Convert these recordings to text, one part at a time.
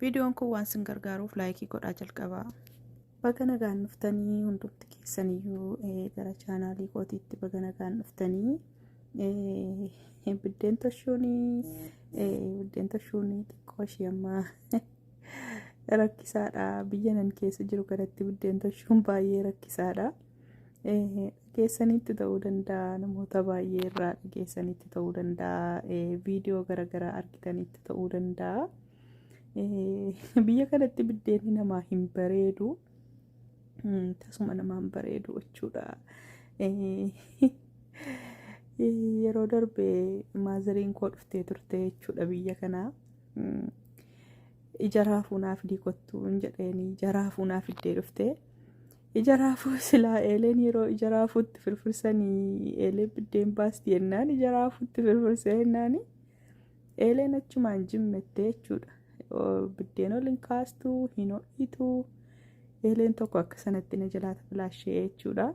Viidiyoon kun waan sin gargaaruuf laayikii godhaa jalqabaa. Baga nagaan dhuftanii hundumti keessaniyyuu eh, gara chaanaalii kootiitti baga nagaan dhuftanii. Eh, Biddeen toshuunii eh, biddeen toshuunii xiqqoo ishee ammaa rakkisaadha. Biyya nan keessa jiru kanatti biddeen toshuun baay'ee rakkisaadha. Dhageessanitti ta'uu danda'a namoota baay'ee irraa dhageessanitti ta'uu danda'a viidiyoo garaagaraa argitanitti ta'uu danda'a. Biyya kanatti biddeenni namaa hin bareedu tasuma namaa hin bareedu jechuudha. Yeroo darbe maazariin koo dhuftee turte jechuudha biyya kanaa. Ija raafuu naaf diikottu hin jedheeni ija raafuu naaf iddee dhuftee. Ija raafuu silaa eeleen yeroo ija raafuutti firfirsanii eelee biddeen baasti jennaan ija raafuutti firfirsee jennaan eeleen achumaan jimmettee jechuudha. Oo, Biddeen ol hin kaastu, hin ho'itu. Eeleen tokko akka sanatti na jalaata filaashee jechuudha.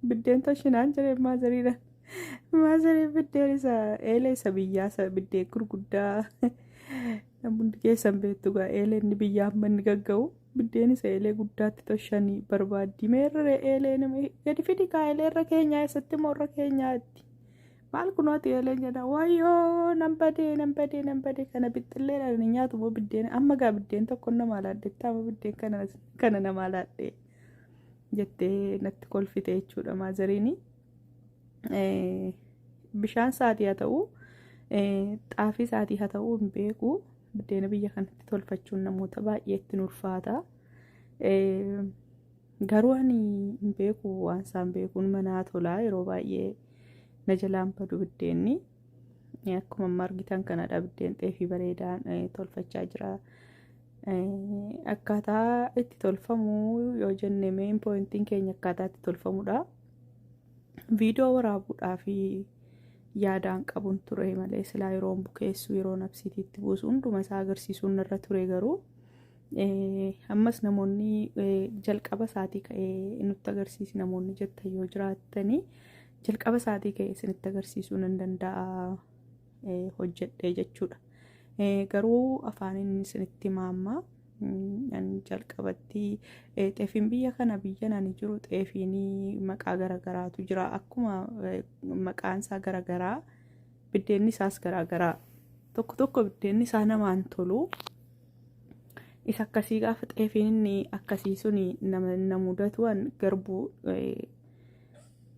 Biddeen toshinaan jireen maazariidhaan. Maazarii biddeen isa eelee isa biyyaa isa biddeen gurguddaa hundi keessan beektu gaa eeleen inni biyyaa amma inni gagga'u. Biddeen isa eelee guddaatti toshanii barbaaddi meerre eelee nama gadi fidi kaa eelee irra keenyaa eessatti moo irra keenyaatti maal kunooti eeleen jedha wayyoo nan badee nan badee nan badee kana bixxillee dhaan hin nyaatu moo biddeen amma gaa biddeen tokko nama laadhettaa amma biddeen kana kana nama laadhee jettee natti kolfite jechuudha maazariinii. bishaan saatii haa ta'u xaafii saatii haa ta'u hin beeku buddeena biyya kanatti tolfachuun namoota baay'ee ittiin ulfaata garuu ani hin beeku waan isaan beekuun manaa tolaa yeroo baay'ee na jalaan badu buddeenni akkuma amma argitan kanadha buddeen xeefii bareedaan tolfachaa jira. Akkaataa itti tolfamu yoo jenne meen poointiin keenya akkaataa itti tolfamudha. viidiyoo waraabuudhaaf yaadaan qabun ture malee silaa yeroon bukeessu yeroo nabsiitiitti buusu hunduma isaa agarsiisuun irra ture garuu ammas namoonni jalqaba isaatii ka'ee nutti agarsiisi namoonni jettan yoo jiraattanii jalqaba isaatii ka'ee isinitti agarsiisuu nan danda'a hojjedhee jechuudha garuu afaaniin isinitti maammaa. An jalqabatti eh, xeefiin biyya kana biyyan ani jiru xeefiin maqaa garagaraatu jira. Akkuma eh, maqaan isaa garagaraa biddeenni isaas garagaraa. Tokko tokko biddeenni isaa namaan tolu. Isa akkasii gaafa xeefiin inni akkasii suni nama na mudatu an garbuu eh,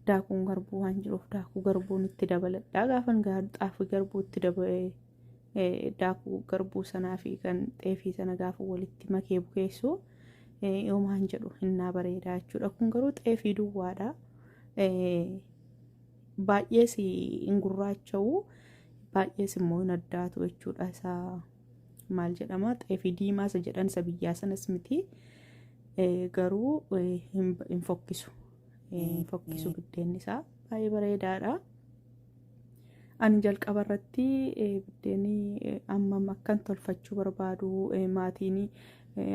daakuun garbuu waan jiruuf daakuu garbuun itti dabaladha. Gaafan gaa xaafii garbuu itti dabalee daakuu garbuu sanaa fi kan xeefii sana gaafa walitti makee bukeessu yoomaan jedhu hinnaa bareedaa jechuudha. Kun garuu xeefii duwwaadha. Baay'ees hin gurraacha'u baay'ees immoo hin addaatu jechuudha. Isaa maal jedhama xeefii diimaa isa jedhan isa biyyaa sanas miti garuu hin fokkisu. Hin fokkisu biddeenni isaa baay'ee bareedaadha. Ani jalqaba irratti biddeenii ammam akkan tolfachuu barbaadu maatiin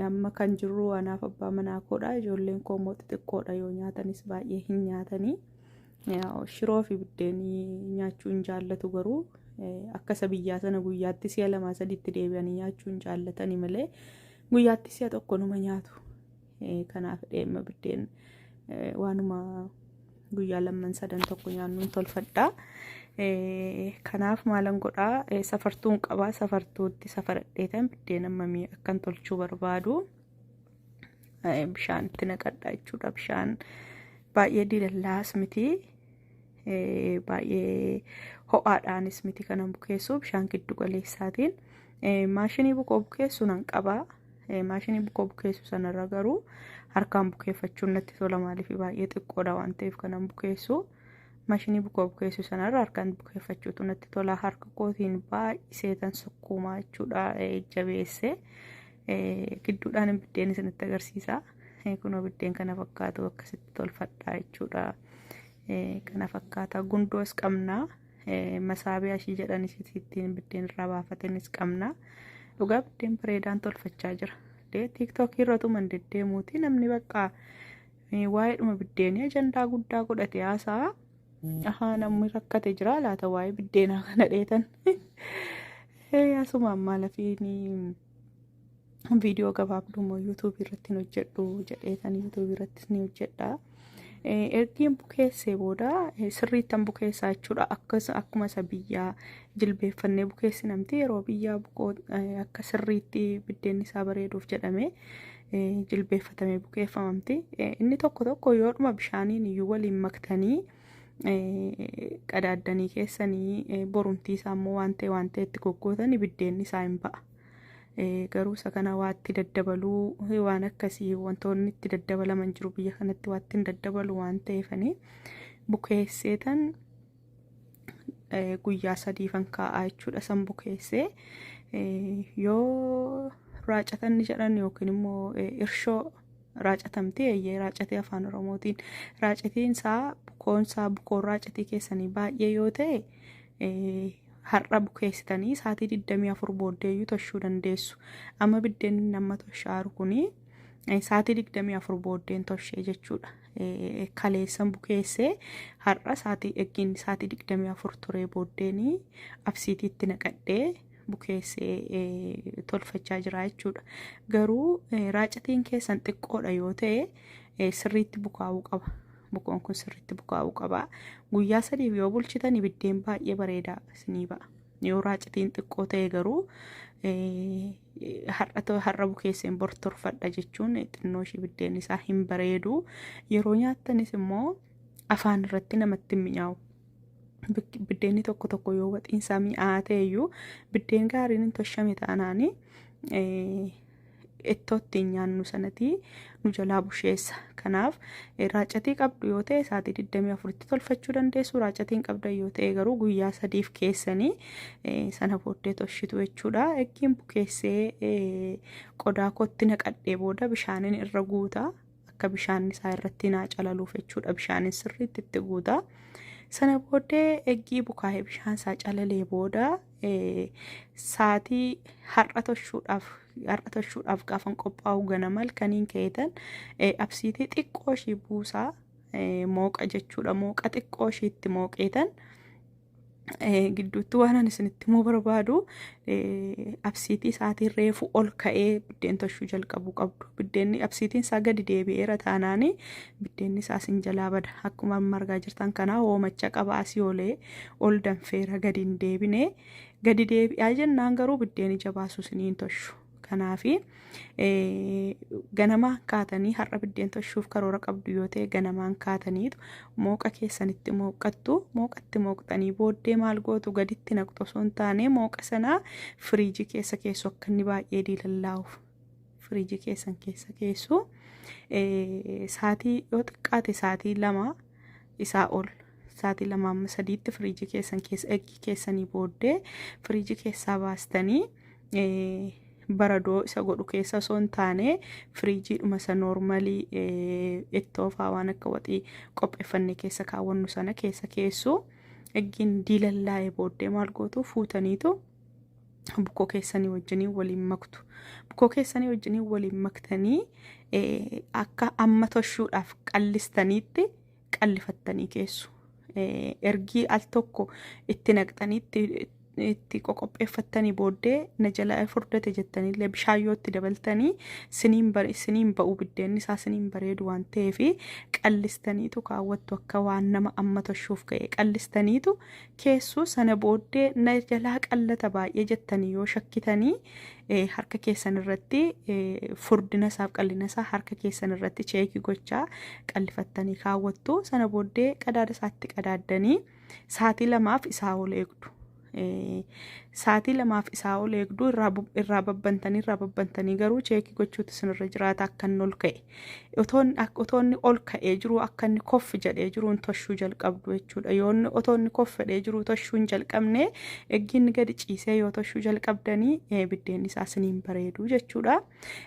amma kan jirru anaaf abbaa manaa koodha ijoolleen koo immoo xixiqqoodha yoo nyaatanis baay'ee hin nyaatanii shiroo fi biddeenii nyaachuu hin jaallatu garuu akka isa biyyaa sana guyyaatti si'a lamaa sadiitti deebi'anii nyaachuu hin jaallatanii malee guyyaatti si'a tokko numa nyaatu. Kanaaf dheema biddeen waanuma guyyaa lamman sadan tokko nyaannuun tolfadha. Kanaaf maalan godhaa safartuun qabaa safartuutti safaradheetan biddeen ammamii akkan tolchuu barbaadu bishaan itti naqadha jechuudha. Bishaan baay'ee diilallaas miti. baay'ee ho'aadhaanis miti kanan bukeessu bishaan giddu galeessaatiin maashinii bukoo bukeessu nan qaba maashinii bukoo bukeessu sanarra garuu harkaan bukeeffachuun natti tola maaliif baay'ee xiqqoodha waan ta'eef kanan bukeessu maashinii bukoo bukeessu sanarra harkaan bukeeffachuutu natti tola harka kootiin baay'iseetan sukkuumaa jechuudha jabeessee. Gidduudhaan biddeen isinitti agarsiisa. Kunoo biddeen kana fakkaatu akkasitti tolfadhaa jechuudha. Kana fakkaata gundoos qabna. Masaabiyaa ishii jedhan isittiin biddeen irraa baafatenis qabna. Dhugaa biddeen bareedaan tolfachaa jira. Tiiktookii irra tuman deddeemuuti namni bakka waa'eedhuma biddeenii ajandaa guddaa godhate haasaa. Ahaa namni rakkate jira laata waa'ee biddeenaa kana dheetan. Asumaan maalafiin viidiyoo gabaabduu immoo yuutuubii irratti hin hojjedhu jedheetan yuutuubii irrattis ni hojjedha. Ergiin bukeessee booda sirriittan bukeessaa jechuudha. Akkas akkuma isa biyyaa jilbeeffannee bukeessi namti yeroo biyyaa bukoo akka sirriitti biddeenni isaa bareeduuf jedhamee jilbeeffatamee bukeeffamamti. Inni tokko tokko yoodhuma bishaaniin iyyuu waliin maktanii qadaaddanii keessanii borumtii isaa immoo waan ta'e waan ta'e itti goggootan biddeenni isaa hin ba'a. Garuu isa kana waa itti daddabaluu waan akkasii wantoonni itti daddabalaman jiru biyya kanatti waa ittiin daddabalu waan ta'eefanii bukeesseetan guyyaa sadiifan kaa'aa jechuudha san bukeessee yoo raacatan ni jedhan yookiin immoo irshoo raacatamtee eeyyee raacatee afaan oromootiin raacatiin isaa bukoon isaa bukoon raacatii keessanii baay'ee yoo ta'e eh, har'a bukeessitanii saatii 24 booddeeyyuu toshuu dandeessu amma biddeen nama toshaaru kuni eh, saatii 24 booddeen toshee jechuudha Eh, kaleessan bukeessee har'a saatii eggiin saatii 24 turee booddeenii absiitiitti naqadhee bukeessee tolfachaa jira jechuudha. Garuu raacatiin keessan xiqqoodha yoo ta'e sirriitti bukaa'uu qaba. Bukoon kun sirriitti bukaa'uu qaba. Guyyaa sadiif yoo bulchitan ibiddeen baay'ee bareedaa isinii ba'a. Yoo raacatiin xiqqoo ta'e garuu har'a bukeesseen bor tolfadha jechuun xinnoo ishii ibiddeen isaa hin bareedu. Yeroo nyaattanis immoo afaan irratti namatti hin mi'aawu. biddeenni tokko tokko yoo waxiinsaa mi'aa ta'eyyuu biddeen gaariin hin toshame taanaan ittoo ittiin nyaannu sanatii nu jalaa busheessa. Kanaaf raacatii qabdu yoo ta'e sa'aatii 24tti tolfachuu dandeessu. Raacatiin qabdan yoo ta'e garuu guyyaa sadiif keessanii sana booddee toshitu jechuudha. Eggiin bukeessee qodaa kootti naqadhee booda bishaaniin irra guuta. akka bishaan isaa irratti naa calaluuf jechuudha bishaaniin sirriitti itti guuta. Sana booddee eggii bukaa'ee bishaan isaa calalee booda saatii har'a toshuudhaaf har'a toshuudhaaf gaafan qophaa'u ganama halkaniin ka'eetan absiitii xiqqoo ishii buusaa mooqa jechuudha mooqa xiqqoo ishiitti mooqeetan gidduutti waanan isinitti immoo barbaadu absiitii isaatiin reefu ol ka'ee biddeen toshuu jalqabu qabdu biddeenni absiitiin isaa gadi deebi'eera taanaanii biddeenni isaa sin jalaa bada akkuma amma argaa jirtan kanaa hoomacha qaba asii olee ol danfeera gadi hin deebine gadi deebi'aa jennaan garuu biddeen ija baasu siniin toshu Kanaaf ganamaan kaatanii har'a biddeen toshuuf karoora qabdu yoo ta'e ganamaan kaataniitu mooqa keessanitti mooqqattu mooqatti mooqxanii booddee maal gootu gaditti naqxu osoo hin taane mooqa sanaa firiijii keessa keessu akka inni baay'ee diilallaa'uuf firiijii keessan keessa keessu saatii yoo xiqqaate saatii lama isaa ol saatii lama amma sadiitti firiijii keessan keessa eggii keessanii booddee firiijii keessaa baastanii baradoo isa godhu keessa osoo hin taane firiijiidhuma isa noormalii ittoofaa waan akka waxii qopheeffannee keessa kaawwannu sana keessa keessu eggiin diilallaa'ee booddee maal gootu fuutaniitu bukkoo keessanii wajjiniin waliin maktu bukkoo keessanii wajjiniin waliin maktanii eh, akka amma toshuudhaaf qallistaniitti qallifattanii keessu Eh, ergii al tokko itti naqxaniitti itti qoqopheeffattanii booddee na jala furdate jettanillee bishaan yoo itti dabaltanii siniin bare siniin ba'u biddeenni isaa siniin bareedu waan ta'eef qallistaniitu kaawwattu akka waan nama amma toshuuf ga'e qallistaniitu keessu sana booddee na jalaa qallata baay'ee jettanii yoo shakkitanii harka keessan irratti furdina isaaf qallina isaa harka keessan irratti cheekii gochaa qallifattanii kaawwattu sana booddee qadaada isaatti qadaaddanii saatii lamaaf isaa ol eegdu. Saatii lamaaf isaa ol eegdu irraa babbantanii irraa babbantanii garuu cheekii gochuutu isinirra jiraata akka inni ol ka'e. Otoon ak- otoo inni ol ka'ee jiru akka inni koff jedhee jiruun toshuu jalqabdu jechuudha. Yoo inni otoo inni koff jedhee jiru toshuu hin jalqabne eggi inni gadi ciisee yoo toshuu jalqabdanii eh, biddeenni isaa isiniin bareedu jechuudha.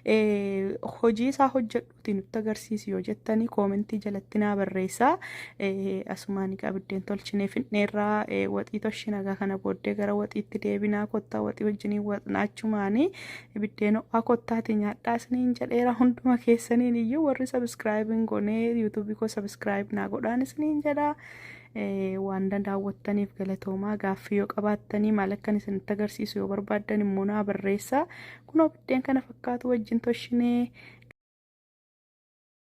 Eh, Hojii isaa hojjedhuuti nutti agarsiisi yoo jettanii koomentii jalatti naa barreessaa. Eh, Asumaan egaa biddeen tolchinee fixneerraa eh, waxii toshii nagaa kana booddee gara waxiitti deebinaa kottaa waxii wajjiniin waxnaachumaanii ibiddeen ho'aa kottaatii nyaadhaa isiniin jedheera hunduma keessaniin iyyuu warri sabiskiraayib hin goonee yuutuubii koo sabiskiraayib naa godhaan isiniin jedhaa waan daawwattaniif galatoomaa gaaffii yoo qabaattanii maal akkan isinitti agarsiisu yoo barbaaddan immoo naa barreessaa kunoo biddeen kana fakkaatu wajjin toshinee